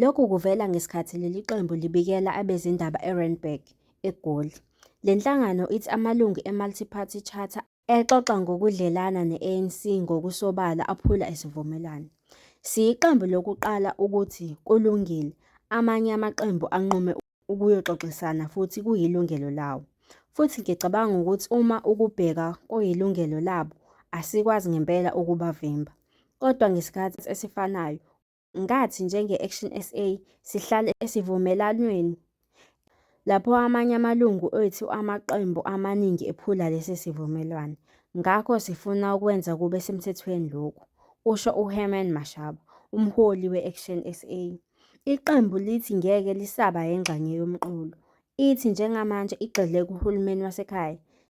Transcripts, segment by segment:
Lokhu kuvela ngesikhathi leli qembu libikela abezindaba eRandburg, eGoli. Le nhlangano ithi amalungu eMultiparty Charter exoxa ngokudlelana ne-ANC ngokusobala aphula isivumelwano. Siyiqembu lokuqala ukuthi kulungile, amanye amaqembu anqume ukuyoxoxisana futhi kuyilungelo lawo. Futhi ngicabanga ukuthi uma ukubheka kuyilungelo labo, asikwazi ngempela ukubavimba. Kodwa ngesikhathi esifanayo, ngathi njenge-Action SA sihlale esivumelwanweni lapho amanye amalungu ethu amaqembu amaningi ephula lesi sivumelwano. Ngakho sifuna ukwenza kube semthethweni lokhu, kusho uHerman Mashaba, umholi we-Action SA. Iqembu lithi ngeke lisaba yengxenye yomqulu. Ithi njengamanje igxile kuhulumeni wasekhaya.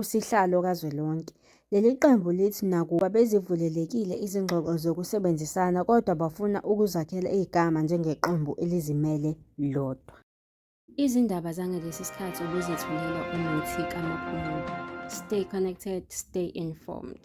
usihlalo kazwelonke. Leli qembu lithi nakuba bezivulelekile izingxoxo zokusebenzisana kodwa bafuna ukuzakhela igama njengeqembu elizimele lodwa. Izindaba zangalesi sikhathi obuzithulela umuthi kamaphumulo. Stay connected, stay informed.